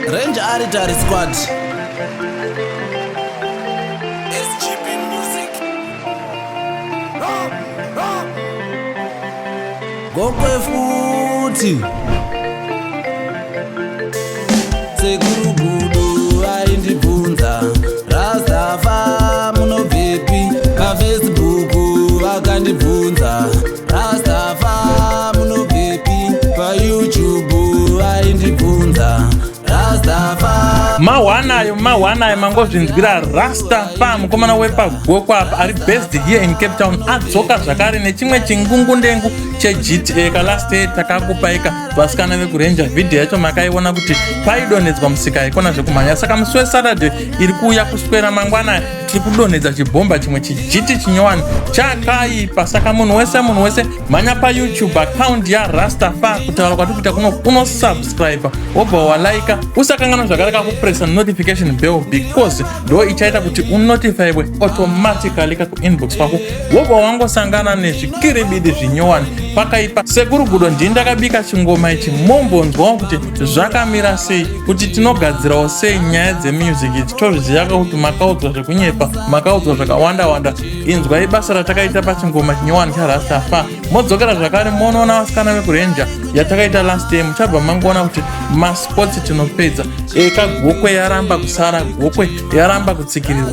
Range Aritari Squad. SGP Music. Gokwe futhi. mahwanayo mahwanayo mangozvinzwira rasta pa mukomana wepagoko apa ari based here in cape town adzoka zvakare nechimwe chingungundengu chegta kalast takakupaika vasikana vekurenja vhidhiyo yacho makaiona kuti paidonhedzwa musika haikona zvekumhanya saka musi wesaturday iri kuuya kuswera mangwana tiri kudonhedza chibhomba chimwe chijiti chinyowani chakaipa saka munhu wese munhu wese mhanya payoutube akaundi yarastafa kutaura kwati kuita kuno unosubscribe wobva walaika usakanganwa zvakare kakupresa notification bell because ndo ichaita kuti unotifywe automatically kakuinbox kwako wobva wangosangana nezvikiribidi zvinyowani pakaipa sekuru gudo ndii ndakabika chingoma ichi mombonzwawo kuti zvakamira sei kuti tinogadzirawo sei nyaya dzemusic idzi tozviziyaka kuti makaudzwa zvekunyepa makaudzwa zvakawanda wanda inzwai basa ratakaita pachingoma chinyowani charastafa modzokera zvakare monoona vasikana vekurenja yatakaita last day muchabva mangoona kuti masports tinopedza eka gokwe yaramba kusara gokwe yaramba kutsikirirwa